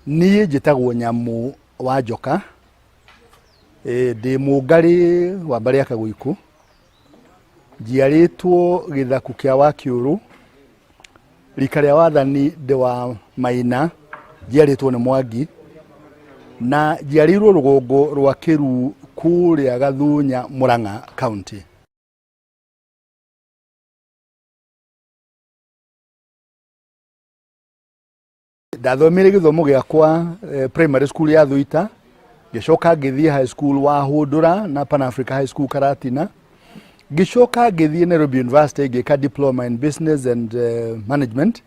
niĩ njĩtagwo nyamũ wa njoka Eh, ndĩ mũngarĩ wa mbarĩ ya kagũikũ njiarĩtwo gĩthaku kĩa wakiũrũ rika rĩa wathani ndĩ wa maina njiarĩtwo nĩ mwangi na njiarĩirwo rũgongo rwa kĩru kũrĩa gathunya mũrang'a kaunti ndathomire gĩthomo gĩakwa eh, primary school ya thuita ngĩcoka ngĩthiĩ high school wa hũndũra na pan africa high school karatina ngĩcoka ngĩthiĩ nairobi university ngĩka diploma in business and eh, management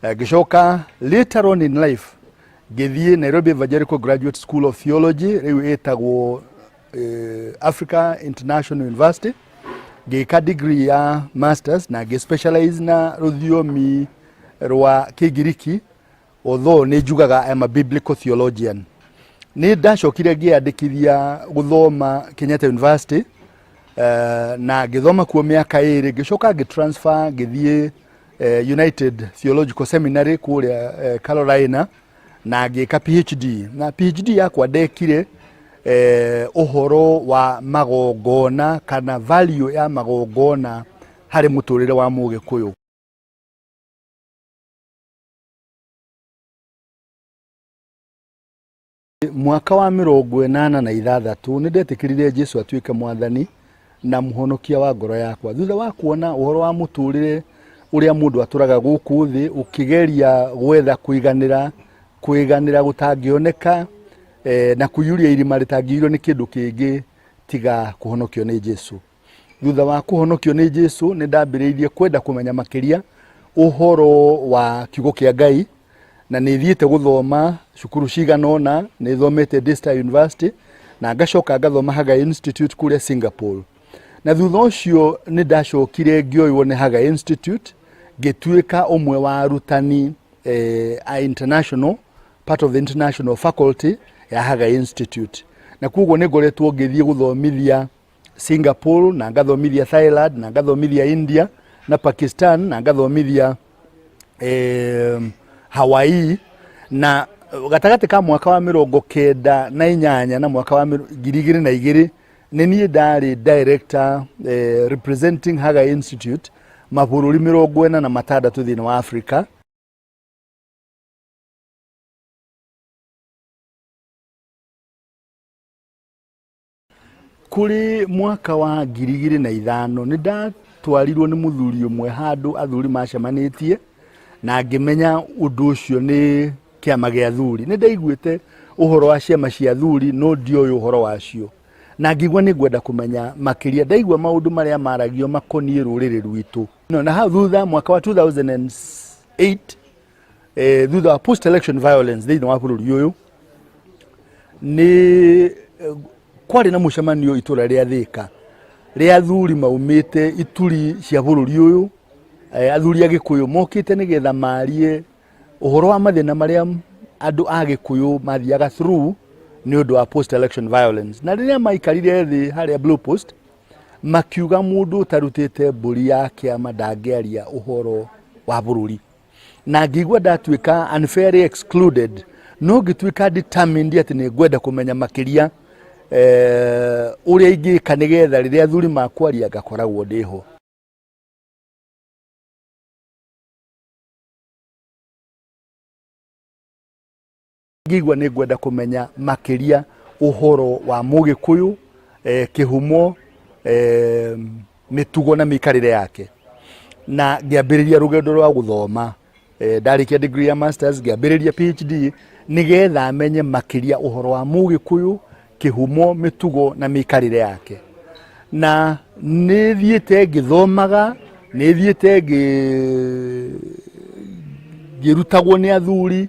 Eh, ngĩcoka later on in life ngĩthiĩ nairobi evangelical graduate school of theology rĩu ĩtagwo eh, africa international university ngĩka degree ya masters na ngĩ specialize na rũthiomi rwa kĩngiriki although nĩ njugaga I'm a biblical theologian nĩ ndacokire ngĩyandĩkithia gũthoma kenyatta university eh, na ngĩthoma kuo mĩaka ĩrĩ ngĩcoka ngĩtransfer ngĩthiĩ eh, United Theological Seminary kũrĩa eh, Carolina na ngĩka PhD na PhD yakwa ndekire eh, ũhoro wa magongona kana value ya magongona harĩ mũtũrĩre wa mũgĩkũyũ mwaka wa mĩrongo ĩnana na ithathatũ nĩ ndetĩkĩrire jesu atuĩke mwathani na mũhonokia wa ngoro yakwa thutha wa kuona ũhoro wa mũtũrĩre ũrĩa mũndũ atũraga gũkũ thĩ ũkĩgeria gwetha kũiganĩra kũiganĩra gũtangĩoneka eh, na kũiyũria irima rĩtangĩiyũrio nĩ kĩndũ kĩngĩ tiga kũhonokio nĩ jesu Thutha wa kũhonokio nĩ Jesu, nĩ ndambĩrĩirie kwenda kũmenya makĩria ũhoro wa kiugo kĩa Ngai na nĩ thiĩte gũthoma cukuru cigana ũna, nĩ thomete Daystar University na ngacoka ngathoma Hagai Institute kũrĩa Singapore. Na thutha ũcio nĩ ndacokire ngĩoywo nĩ Hagai Institute ngĩtuĩka ũmwe wa arutani eh, a international part of the international faculty ya Hagai Institute. Na kuoguo nĩ ngoretwo ngĩthiĩ gũthomithia Singapore na ngathomithia Thailand na ngathomithia India na Pakistan na ngathomithia eh, Hawaii na gatagatĩ ka mwaka wa mĩrongo kenda na inyanya na mwaka wa mĩro- ngiri igĩrĩ na igĩrĩ nĩ niĩ ndarĩ director eh, representing Haga Institute mabũrũri mĩrongo ĩna na matandatũ thĩinĩ wa Africa kuri mwaka wa ngiri igĩrĩ na ithano nĩ ndatwarirwo nĩ mũthuri ũmwe handũ athuri macemanĩtie na ngĩmenya ũndũ ũcio nĩ kĩama gĩa athuri nĩ ndaiguĩte ũhoro wa ciama cia athuri no ndioĩ ũhoro wacio na ngĩigua nĩ ngwenda kũmenya makĩria ndaigua maũndũ marĩa maragio makoniĩ rũrĩrĩ rwitũ no na hau thutha mwaka wa 2008 eh, thutha wa post election violence thĩinĩ wa bũrũri ũyũ nĩ eh, kwarĩ na mũcemanio itũra rĩa thĩka rĩa athuri maumĩte ituri cia bũrũri ũyũ eh, athuri a gĩkũyũ mokĩte nĩgetha marie ũhoro wa mathĩna marĩa andũ a gĩkũyũ mathiaga through nĩ ũndũ wa post election violence na rĩrĩa maikarire thĩ harĩa blue post makiuga mũndũ ũtarutĩte mbũri ya kĩama ndangĩaria ũhoro wa bũrũri na ngĩigua ndatuĩka unfairly excluded no ngĩtuĩka determined atĩ nĩ ngwenda kũmenya makĩria eh, ũrĩa ingĩka nĩgetha rĩrĩa athuri makwaria ngakoragwo ndĩho Ngĩigua nĩ ngwenda kũmenya makĩria ũhoro wa Mũgĩkũyũ, eh, kĩhumo, eh, mĩtugo na mĩikarĩre yake. Na ngĩambĩrĩria rũgendo rwa gũthoma. Eh, ndarĩkia degree ya masters, ngĩambĩrĩria PhD, nĩgetha menye makĩria ũhoro wa Mũgĩkũyũ, kĩhumo, mĩtugo na mĩikarĩre yake. Na nĩ thiĩte ngĩthomaga, nĩ thiĩte ngĩ- ngĩrutagwo nĩ athuri,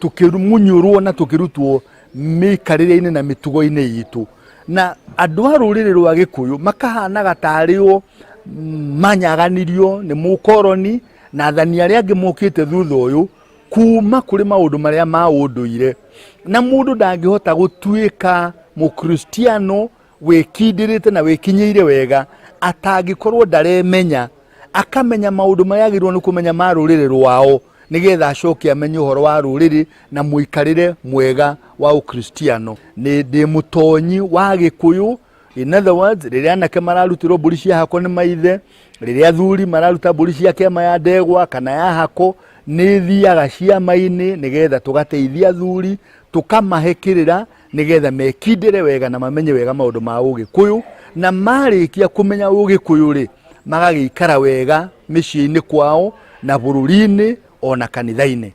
tũkĩmunyũrwo na tũkĩrutwo mĩikarĩre-inĩ na mĩtugo-inĩ itũ na andũ a rũrĩrĩ rwa gĩkũyũ makahanaga tarĩ o manyaganirio nĩ mũkoroni na athani arĩa angĩ mokĩte thutha ũyũ kuma kũrĩ maũndũ marĩa ma ũndũire na mũndũ ndangĩhota gũtuĩka mũkristiano wĩkindĩrĩte na wĩkinyĩire wega atangĩkorwo ndaremenya akamenya maũndũ marĩa agĩrĩirwo nĩ kũmenya ma rũrĩrĩ rwao nĩgetha acoke amenye ũhoro wa rũrĩrĩ na mũikarĩre mwega wa ũkristiano nĩ ndĩ mũtonyi wa gĩkũyũ in other words rĩrĩa anake mararutĩrwo mbũri cia hako nĩ maithe rĩrĩa athuri mararuta mbũri cia kĩama ya ndegwa kana ya hako nĩ thiaga ciama-inĩ nĩgetha tũgateithia athuri tũkamahe kĩrĩra nĩgetha mekindĩre wega na mamenye wega maũndũ ma ũgĩkũyũ na marĩkia kũmenya ũgĩkũyũ rĩ magagĩikara wega mĩciĩ-inĩ kwao na bũrũri-inĩ o na kanitha-inĩ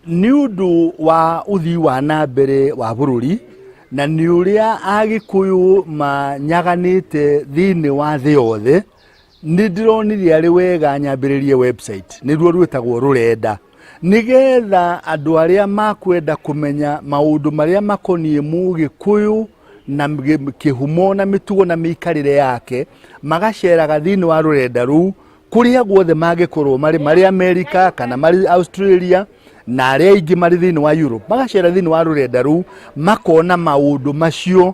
nĩ ũndũ wa ũthii wa na mbere wa bũrũri na nĩ ũrĩa agĩkũyũ manyaganĩte thĩinĩ wa thĩ yothe nĩ ndĩronire arĩ wega nyambĩrĩrie website nĩruo rwĩtagwo rũrenda nĩgetha andũ arĩa makwenda kũmenya maũndũ marĩa makoniĩ mũgĩkũyũ na mgĩ- kĩhumo na mĩtugo na mĩikarĩre yake magaceraga thĩinĩ wa rũrenda rũu kũrĩa guothe mangĩkorwo marĩ marĩ amerika kana marĩ australia na arĩa aingĩ marĩ thĩinĩ wa europe magacera thĩinĩ wa rũrenda rũu makona maũndũ macio